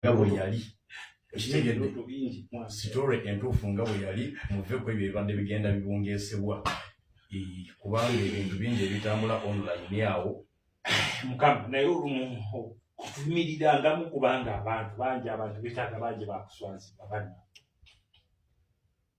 nga bwe yali ekitegedde sitore entuufu nga bwe yali muve ku ebyo ebibadde bigenda bibungesebwa kubanga ebintu bingi ebitambula online awo mukama naye olumu kutumirirangamu kubanga abantu bangi abantu betaaga bangi bakuswazibwa banna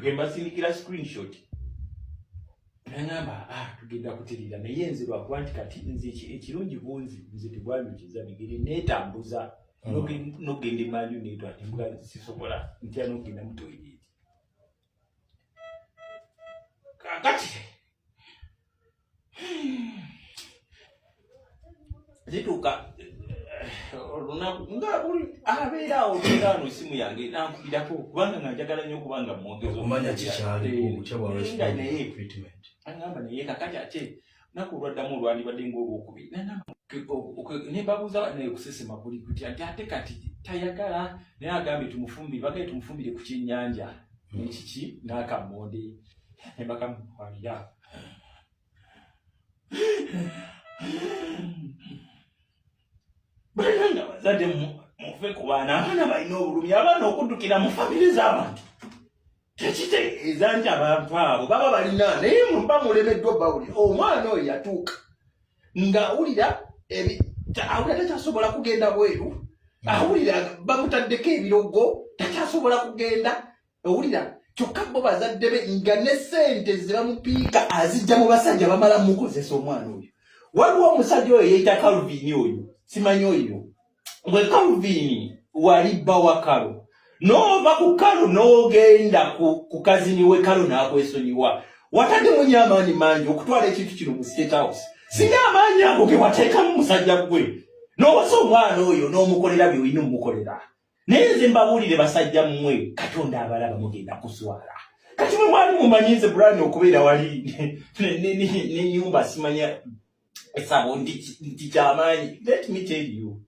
gwembasindikira screenshot nangamba ah, tugenda kutirira naye nze lwakuba nti kati nze ekirungi bunzi nze tebwanyukiza bigere netambuza hmm. nogenda emanju netwa embwa sisobola ntya nogenda mutoyireti kakati zituuka olunaku nga abeera awo beera wano esimu yange nankubirako kubanga nga njagala nnyo okuba nga mwogezi omanya kikyaliinga naye agamba naye kakati ate naku olwaddamu olwandibadde ngaolwokubiri nembabuuza naye kusesema kuli kuti ati ate kati tayagala naye agambye tumufumbire bagaye tumufumbire ku kyenyanja nekiki nakamonde nebakamukwalira bananga bazadde mufe ku baana abaana balina obulumi abaana okuddukira mu famire z'abantu tekitegeeza nti abantu abo baba balina naye muba mulemeddwa bawuli omwana oyo yatuuka ng'awulira awulira takyasobola kugenda bweru awulira bamutaddeko ebirogo takyasobola kugenda owulira kyokka bo bazadde be nga ne sente zebamupiika azijja mu basajja bamala mukozesa omwana oyo waliwo omusajja oyo yeyita calvin oyo simanyi oyo gwe calvin wali bba wa kalo nova ku kalo nogenda ku kazini we kalo nakwesonyiwa watadde munyo amaanyi mangi okutwala ekintu kino mu state house singa amaanyi ago gewateekamu musajja gwe nowasa omwana oyo nomukolera byoyina omukolera naye nze mbabuulire basajja mmwe katonda abalaba mugenda kuswala kati mwe mwali mumanyi nze brani okubeera wali nenyumba simanya esabo nti kyamaanyi let me tell you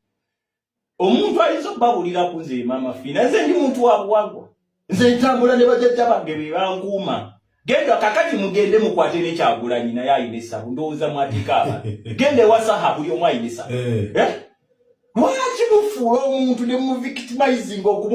omuntu ayinza okubabuulira ku nze maama fiina nze ndi muntu wabuwagwa nze ntambula ne bajajja bange be bankuuma genda kakati mugende mukwate ne kyagulanyi naye ayina essabu ndowooza mwateeka aba genda ewa saha buli omu ayina essabu eh. eh? lwaki mufuula omuntu ne muvictimizing okumu